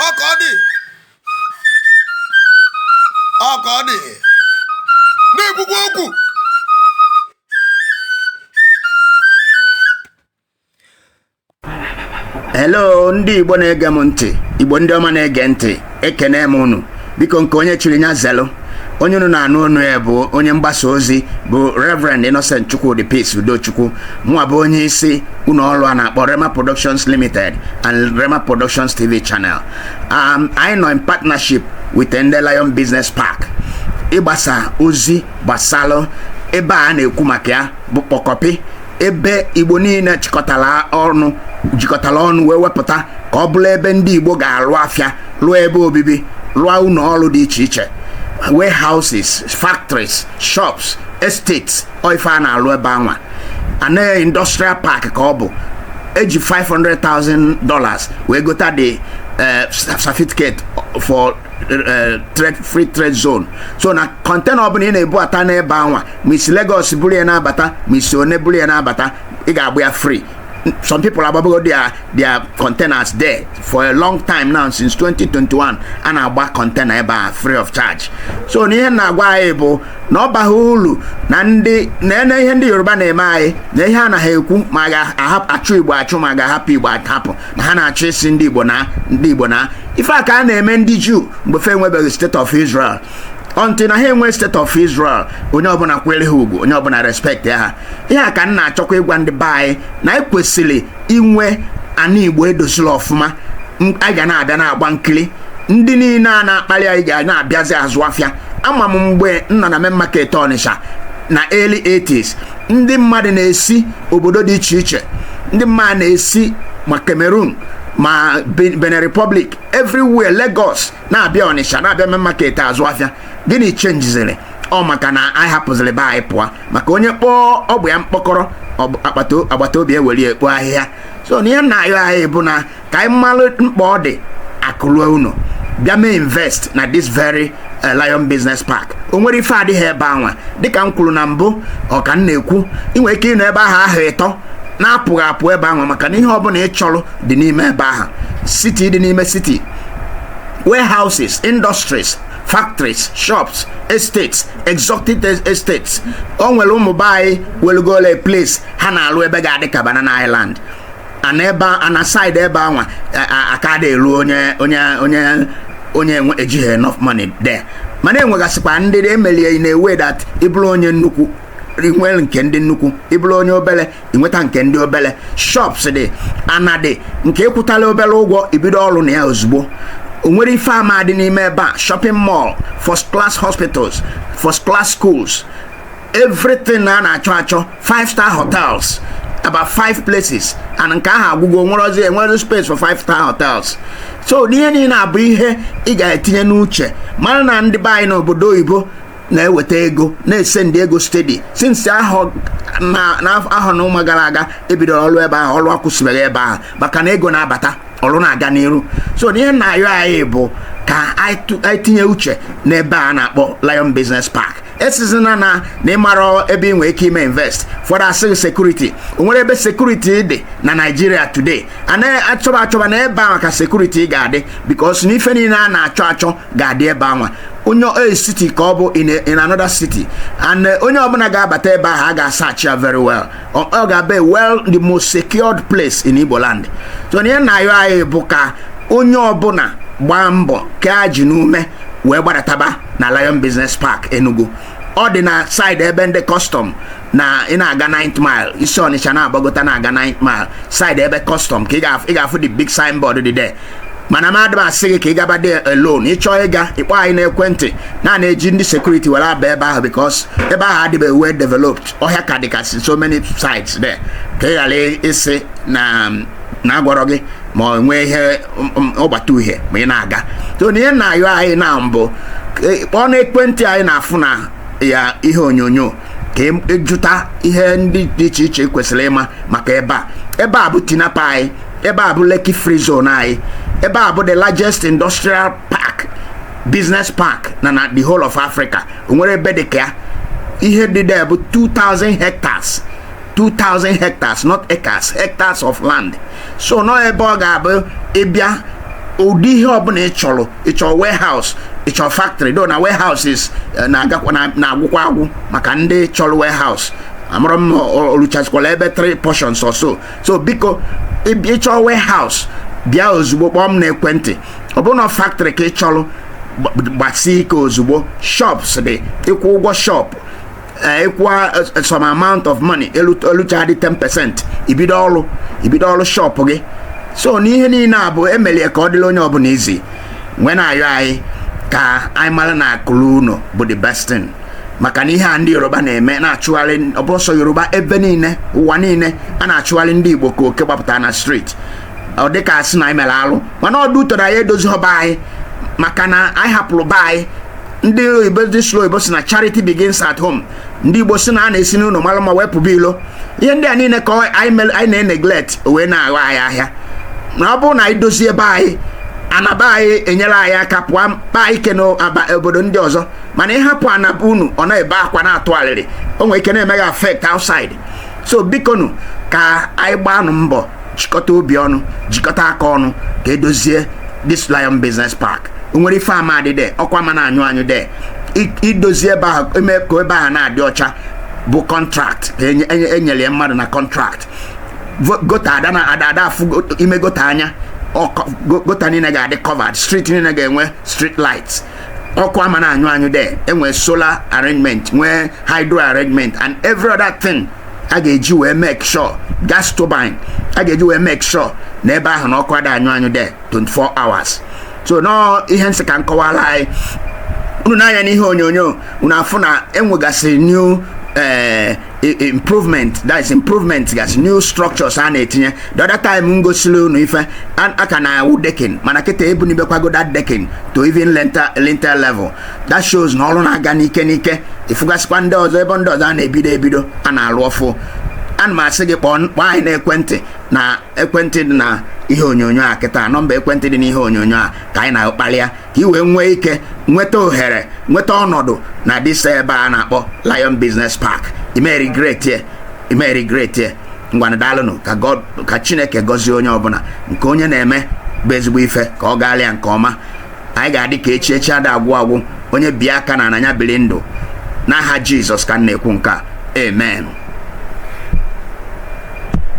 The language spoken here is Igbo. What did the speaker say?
ọ ka ọ dị ọ ka ọ dị na-ekwukwa okwu hello ndị igbo na-ege m ntị igbo ndị ọma na-ege ntị ekene m unu biko nke onye chiri nya zelụ onye unu na-anụ onu ya bụ onye mgbasa ozi bụ Reverend Innocent Chukwudi Peace Udochukwu mụwa bụ onye isi ụlọ ọrụ a na-akpọ Rhema Productions Limited and Rhema Productions TV channel um, anyị nọ in partnership with ndị Lion Business Park ịgbasa ozi gbasalụ ebe a na-ekwu maka ya bụ kpọkọpị ebe igbo niile chịkọtara ọnụ jikọtara ọnụ wee wepụta ka ọ bụrụ ebe ndị igbo ga-alụ afịa lụọ ebe obibi lụọ ụlọ ọrụ dị iche iche warehouses factories shops estates ọ ife a na-alụ ebe anwa ana industrial park ka ọ bụ eji 500,000 dollars wee gota the eh, certificate for Eh, free trade zone so na container ọbụla ị na-ebubata n'ebe anwa ma i si Lagos buru ya na-abata ma i si Onne buru ya na-abata ị ga-agba ya free some people agbabago their their containers there for a long time now since 2021 a na-agba container ebe a free of charge so na ihe m na-agwa anyị bụ na ọ baghị uru na ndị na-ene ihe ndị yoruba na-eme anyị na ihe a na ha ekwu ma ga-achụ igbo achụ ma ga-ahapụ igbo ahapụ na ha na-achụ isi ndị igbo na ndị igbo na ife a ka a na-eme ndị juu mgbe fa enwebeghị state of israel until na ha enwe state of Israel onye ọbụla kwere ha ugwu onye ọbụla respectịa ha ihe a ka m na-achọkwa ịgwa ndị be anyị na anyị kwesịrị inwe ana Igbo edoziri ọfụma a ga na-abịa na-agba nkiri ndị niile a na-akpali anyị ga na-abịazi azụ afịa ama m mgbe m nọ na main market Ọnịsha na early 80s ndị mmadụ na-esi obodo dị iche iche ndị mmadụ na-esi ma Cameroon ma Benin Republic everywhere Lagos na-abịa ọnịsha na-abịa main market azụ afịa gịnị chenjiziri ọ maka na anyị hapụziri be anyị pụọ maka onye kpọọ ọba ya mkpọkọrọ agbata obi ewere ya kpoo ahịhịa so na ihe m na-ayọ anyị bụ na ka anyị malụ mkpa ọ dị akụ luo ụnọ bịa mee invest na this very eh, Lion Business Park o nwere ife adịghị ebe anwa dịka m kwuru na mbụ ọ ka m na-ekwu ị nwere ike ịnọ ebe ahụ ahọ ịtọ na-apụghị apụ ebe ahụ maka na ihe ọbụla ị chọrọ dị n'ime ebe ahụ city dị n'ime city warehouses industries factories shops estates exotic estates o nwere ụmụ be anyị welugole place ha na-alụ ebe ga-adị ka banana island ana ebe a na side ebe anwa aka adị elu onye onye onye onye ejighị enough money there mana enwegasịkwa ndị e mere in a way that ị bụrụ onye nnukwu i were nke ndị nnukwu ị bụrụ onye obere inweta nke ndị obele shops dị ana dị nke ị kwụtala obele ụgwọ i bido ọrụ na ya ozugbo o nwerọ ife ama-adị n'ime ebe a shopping mall first class hospitals first class schools everything a na-achọ achọ five star hotels about five places and nke ahụ agwụgo enwerozi enwe space for five star hotels so na ihe niile a bụ ihe ị ga-etinye n'uche mara na ndị be anyị n'obodo oyibo na-eweta ego na-esendi ego steady since ahọ na ahọ na ụma gara aga e bidoro ọrụ ebe ahụ ọrụ akwụsịbeghị ebe ahụ maka na ego na-abata ọrụ na-aga n'iru so ihe na-ayọ anyị bụ ka anyị tinye uche n'ebe a na-akpọ Lion Business Park asịzina na na ị marọ ebe ị nwere ike ime invest ụfọdụ asị security o nwerọ ebe security dị na Nigeria today a na-achọba achọba na ebe anwa ka security ga-adị because na ife niile a na-achọ achọ ga-adị ebe anwa onye a city ka ọ bụ in a- in another city and eh, onye ọbụla ga-abata ebe ahụ a ga-asachi ya very well ọ ọ ga-abụ a well the most secured place in Igbo land so na ihe na-ayọ anyị bụ ka onye ọbụla gbaa mbọ kee ajị n'ume wee gbadataba na Lion Business Park Enugu ọ dị na side ebe ndị custom na ị na-aga 9th mile i si Ọnịcha na-agbagota na-aga 9th mile side ebe custom ka ị ga-afụ the big signboard dị there mana m adịba asị gị ka ị gaba there alone ị chọọ ịga ị kpọọ anyị n'ekwentị na a na-eji ndị security were aba ebe ahụ because ebe ahụ adịbeghị well developed ọhịa ka dịgasị so many sites there ka ị ghara ịsị na na agwarọ gị ma ọ nwee ihe ọgbata uhie ma ị na-aga so na ihe na-ayọ anyị na mbụ kpọọ n'ekwentị anyị na-afụ na ya ihe onyonyo ka ị jụta e ihe ndị dị iche iche i kwesịrị ịma maka ebe a ebe a bụ Tinapa anyị ebe a bụ Lekki Free Zone anyị ebe a bụ the largest industrial park business park na na the whole of Africa o nwerọ ebe dị ka ya ihe dị there bụ 2000 hectares 2000 hectares not acres hectares of land so na ọ ebe ọ ga-abụ ị bịa ụdị ihe ọbụla ị chọrọ ị chọrọ warehouse ị chọrọ factory though na warehouses eh, na-agwụkwa agwụ maka ndị chọrọ warehouse amarọ m o luchazikwala ebe 3 portions or so so biko ị chọrọ warehouse bịa ozugbo kpọọ m n'ekwentị ọ bụrụ na factory ka ị chọrọ gbasie ike ozugbo shops dị ị kwụọ ụgwọ shop ị kwụwa eh, eh, some amount of money eluchadị 10 percent i bido ọrụ i bido ọrụ shop gị so na ihe niile a bụ e meli ya ka ọ dịla onye ọbụla easy wee na-ayọ anyị ka anyị mara na akụ ruo ụnọ bụ the best thing maka na ihe a ndị Yoruba na-eme na-achụgharị ọ bụrọ sọ Yoruba ebe niile ụwa niile a na-achụgharị ndị Igbo ka oke gbapụta na street ọ dịka a sị na anyị mere alụ mana ọdụ ụtọrọ anyị edozirọ be anyị maka na anyị hapụrụ be anyị ndị oyibo ndị sụrụ oyibo sị na charity begins at home ndị igbo sị na a na-esi n'ụlọ mara mma wee pụba ilo ihe ndị a niile ka anyị na-eneglect wee na-aghọ anyị ahịa na ọ bụrụ na anyị dozie ebe anyị ana be anyị enyere anyị aka pụọ mkpa anyị ke n'obodo ndị ọzọ mana ịhapụ ana be unu ọ na-ebe akwa na-atụ alịrị o nwere ike na-eme gị affect outside so bikonu ka anyị gbaanụ mbọ jikọta obi ọnụ jikọta aka ọnụ ka e dozie this lion business park o nwere ife ama adị de ọkụ ama na-anyụ anyụ de I- idozi ebe ahụ eme ka ebe ahụ na-adị ọcha bụ contract ka enye- enye- e nyere ya mmadụ na contract Vo- gutter ada na ada ada afụ go- ime gutter anya ọkọ- go- gutter niile ga-adị covered street niile ga-enwe street lights ọkụ ama na-anyụ anyụ de e nwee solar arrangement nwee hydro arrangement and every other thing a ga-eji wee make sure gas turbine a ga-eji wee make sure na ebe ahụ na ọkụ ada anyụ anyụ de 24 hours so nọọ ihe m sị ka m kọwaalụ anyị unu nee anya n'ihe onyonyo unu afụ na e nwegasịrị new eh, improvement that is improvement gasị new structures a na-etinye the other time m gosili unu ife a ka na-awụ decking mana kịta ebunibekwago that decking to even lintel level that shows na ọrụ na-aga n'ike n'ike ị fụgasịkwa ndị ọzọ ebe ndị ọzọ a na-ebido ebido a na-alụ ọfụụ ana m asị gị kpọọ anyị na ekwentị na ekwentị dị na ihe onyonyo a kịta nọmba ekwentị dị na ihe onyonyo a ka anyị na-akpalịa ka i wee nwee ike nweta ohere nweta ọnọdụ na this ebe a na-akpọ Lion Business Park ị ma-eregret ye ị ma-eregret ye ngwana daalụnụ ka God ka Chineke gọzie onye ọbụla nke onye na-eme bụ ezigbo ife ka ọ gaalị ya nke ọma anyị ga-adị ka echi echi ada agwụ agwụ onye bie aka na ana nya biri ndụ n'aha Jizọs ka m na-ekwu nke a amen